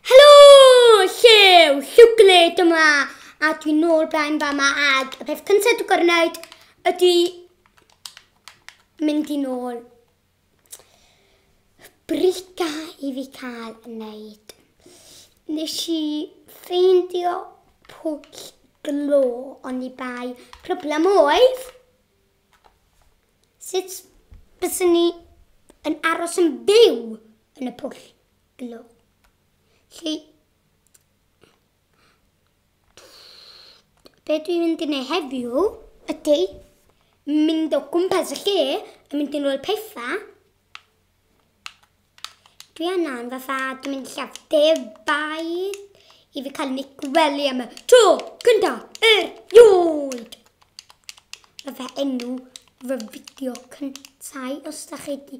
Helo! Lle yw Llwcle dyma? A dwi'n nôl blaen fama ag y peth cyntaf dwi'n gorau wneud ydy mynd i nôl brita i fi cael yn neud. Nes i ffeindio pwll glo ond i bai. Problem oedd, sut bysyn ni yn aros yn byw yn y pwll Blo. Lle... Be dwi'n mynd i wneud heddiw ydy mynd o gwmpas y lle a mynd i'n ôl pethau. Dwi anna yn fatha, dwi'n mynd lle debai i fi cael ni gwely am y tro cynta er ioed. Fatha enw fy fideo cyntau os da chi wedi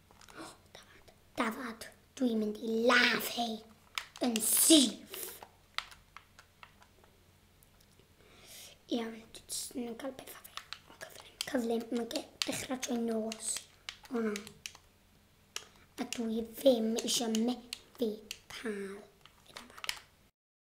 Dafad, dwi'n mynd i ladd hei yn syth. Iawn, dwi'n nhw'n cael pethau fi. Cyflym, cyflym, mae'n dechrau trwy nos. O na. A dwi ddim eisiau methu cael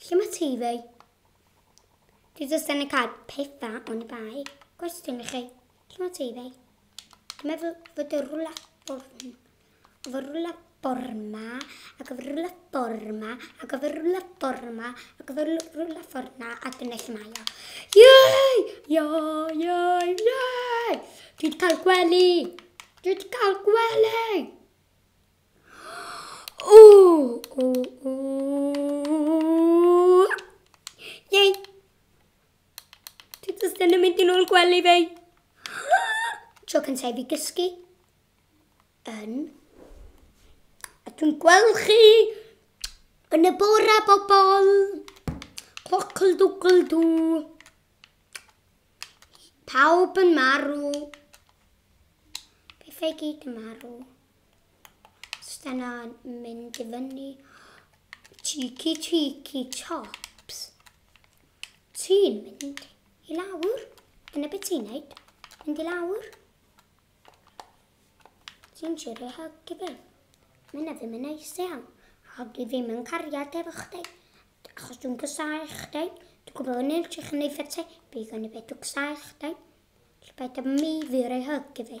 Lle mae TV? Dwi jyst yn y cael pethau o'n bai. Gwestiwn i chi. Lle mae TV? Dwi'n meddwl fod y rwla born. Fy rwla borma, ac fy rwla borma, ac fy rwla borma, ac fy rwla forna, a dyna lle mae o. Iei! Iei! Iei! Iei! Dwi wedi cael gwely! Dwi wedi cael gwely! gwely fi. Tro cyntaf i fi gysgu yn... A dwi'n gweld chi yn y bora bobl. Clocl dwgl dw. Pawb yn marw. Pethau gyd yn marw. Stena'n mynd i fyny. Cheeky, cheeky chops. Ti'n mynd i lawr. Dyna beth ti'n neud. Mynd i lawr. Ti'n siwr ei helpu fi. Mae'n na ddim yn neis iawn. A dwi ddim yn cariad efo chdi. Achos dwi'n gysau chdi. Dwi'n gwybod yn eich chi'n ei ffetau. Bydd yn y beth dwi'n gysau chdi. Bydd yn mi fyr ei helpu fi.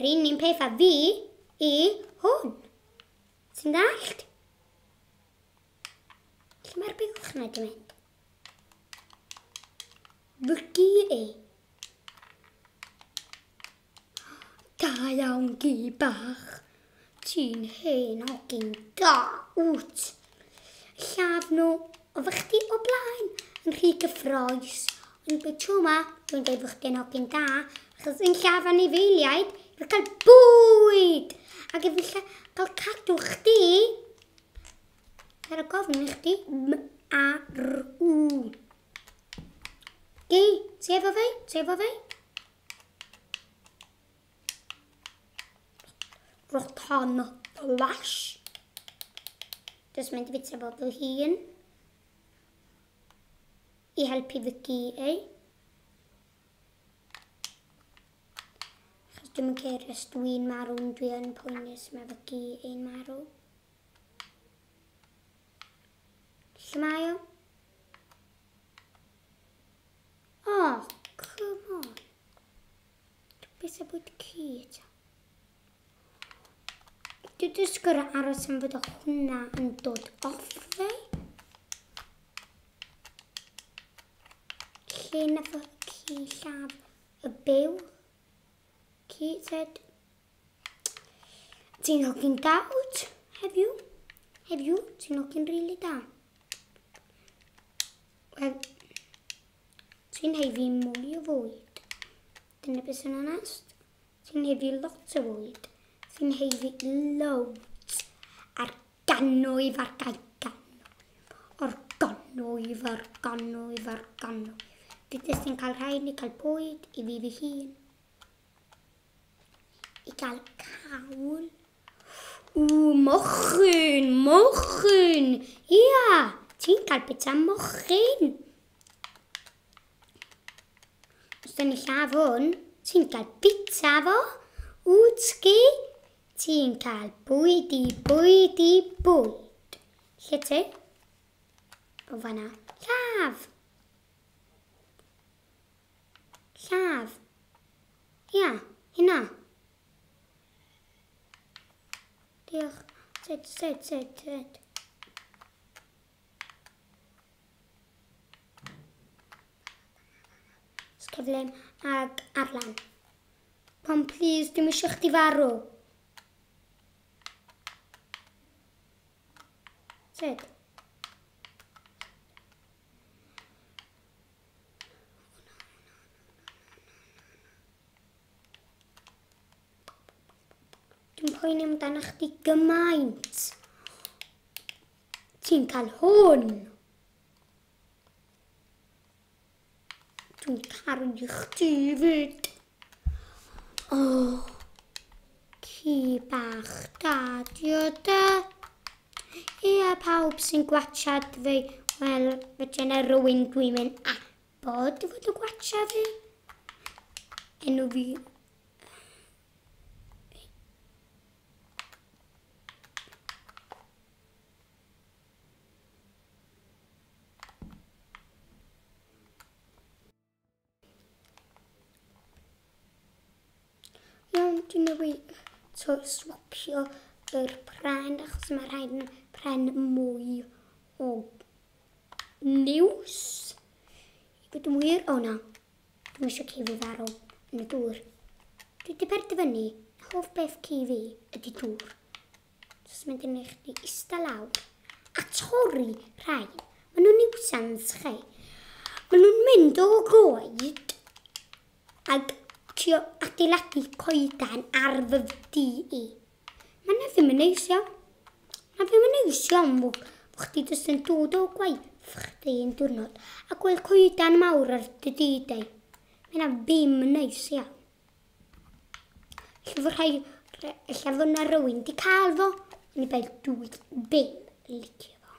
Yr un un peth a fi i hwn. Ti'n dallt? Lle mae'r bylch na di mynd? Fygu i. Da iawn gi bach. Ti'n hen hogyn da wt. Lladd nhw, oedd chdi o blaen yn rhy gyffroes. Ond be tro ma, dwi'n dweud bod chdi'n hogyn da, achos yn lladd anifeiliaid, efo cael bwyd! Ac efallai cael cadw chdi, ar y gofn i chdi, M-A-R-U. Gei, ti efo fi? Ti efo fi? Rotan Flash. Jyst mynd i fitio fo fy hun. I helpu fy gi ei. Chos dwi'n ceir os dwi'n marw, dwi'n poenus, mae fy gi ein marw. Lle mae o? Oh, come on. Be sy'n bod ci eto? Dwi jyst gorau aros am fod o hwnna yn dod off fi. Lle na fo ci llaf y byw. Ci, said. Ti'n hogyn da wyt? Have you? Have you? Ti'n hogyn rili really da? Wel, ti'n hei fi mwy o fwyd. Dyna beth sy'n onest. Ti'n hei fi lot o fwyd. Ti'n hei fi loads. A'r ganwyf a'r gael ganwyf. O'r ganwyf, o'r ganwyf, o'r ganwyf. Dydys ti'n cael rhaid ni cael bwyd i fi fy hun. I gael cawl Ww mochyn, mochyn! Ia, ti'n cael bit am mochyn. Os dyn ni llaw hwn, ti'n cael bita fo. Wtsgi, ti'n cael bwyd i bwyd i bwyd. Lle ti? O fanna. Llaw! Llaw. Ia, hynna. Diolch. Sut, sut, sut, sut? Sgeflem ag Arlan. Pam, please, dim eisiau chdi farw. Sut? Dwi'n poeni amdano chdi gymaint. Ti'n cael hwn. Dwi'n caru chdi fyd. O, oh, ci bach da, dio da. Ia, pawb sy'n gwachad fi, wel, fe dyna rwy'n dwi'n mynd a Bod ti fod yn gwatcha fi? Enw fi... Iawn, dwi'n newid to swapio yr pren achos mae rhaid yn pren mwy o News. I bod yn wir, o na, dwi'n eisiau ci fi farw yn y dŵr. Dwi wedi perdyfynu, hoff beth ci fi ydy dŵr. Os mynd yn eich di ista lawr a torri rhain. Mae nhw'n niwsans chi. Mae nhw'n mynd o goed ac trio adeiladu coedan ar fy fdi i. Mae hynna ddim yn neis iawn. Mae ddim yn neis iawn fo, fo chdi jyst yn dod o gwaith chdi yn diwrnod a gweld coedan mawr ar dy didau. Mae hynna ddim yn neis iawn. Lle fo rhai, lle fo na rywun di cael fo, yn i beth dwi ddim yn licio fo.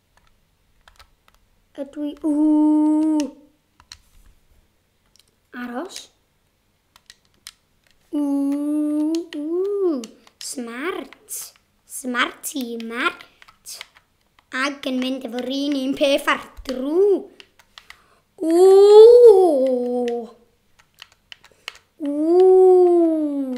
Ydw i... Ww! Aros. Ww! Smart. Smart i mart. Ac yn mynd efo'r un un peth ar drw. Ww! Ww!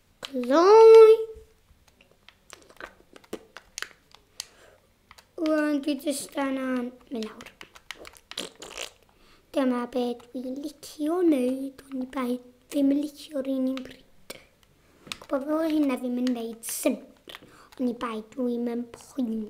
Gloi. Rwan dwi jyst angen mynd lawr. Dyma be dwi'n licio wneud, ond bai ddim yn licio'r un i'n bryd. Gwybod fel hynna ddim yn gwneud synnwyr, ond i bai dwi'n mynd poeni.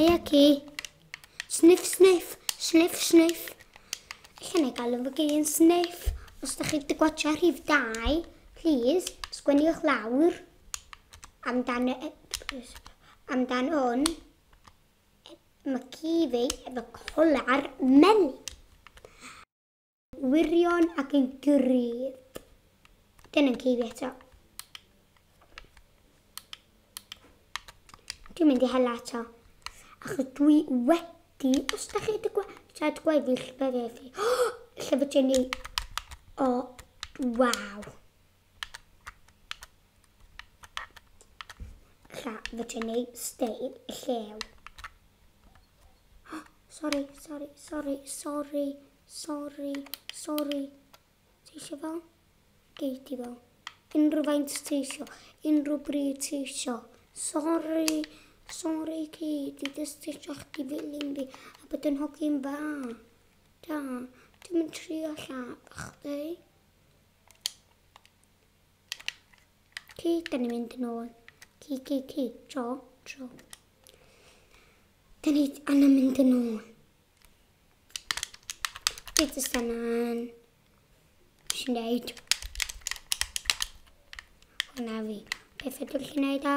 Hei aki. Sniff, sniff, sniff, sniff. Lle na i gael yn fy gyn sniff. Os da chi wedi gwachio rhif 2, please, sgwenniwch lawr amdan, e, amdan hwn. Mae ci fi efo colar meli. wirion ac yn gryf. Dyna'n ci fi eto. Dwi'n mynd i hela eto. Achos dwi wedi, os da chi wedi gwachod gweddill fe fe fi. Llyfr Jenny. O, waw. Lla, fy ti'n ei stein y llew. Sorry, sorry, sorry, sorry, sorry, sorry. Ti eisiau fel? Gei ti fel. Unrhyw faint ti eisiau, unrhyw bryd ti eisiau. Sorry, sorry ti, ti just eisiau chdi filyn fi a bod yn hogyn dda. Da, ti'n mynd trio lla, chdi? Ci, da ni'n mynd yn ôl. Ci, ci, ci, tro, tro. Da ni anna mynd yn ôl. Beth ys da na'n... Sy'n neud? Hwna fi. Beth ydw'n chi'n neud a...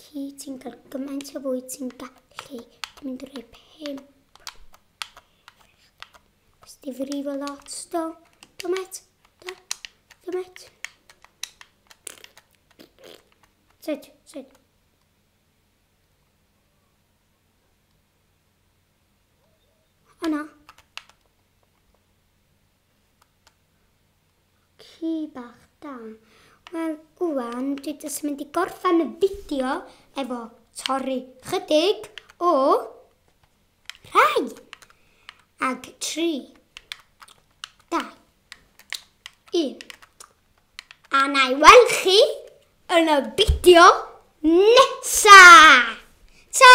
Ci, ti'n cael gymaint o fwyd ti'n gallu. Ti'n mynd i roi pimp. Ys di frifo lot, do? Do, met? Do? Do, met? Sut, sut? O na. Ci bach da. Wel, ŵan dwi jyst mynd i gorffen y fideo efo torri chydig o rhai. Ag tri, da, un. A na i weld chi yn y fideo nesa! Ta!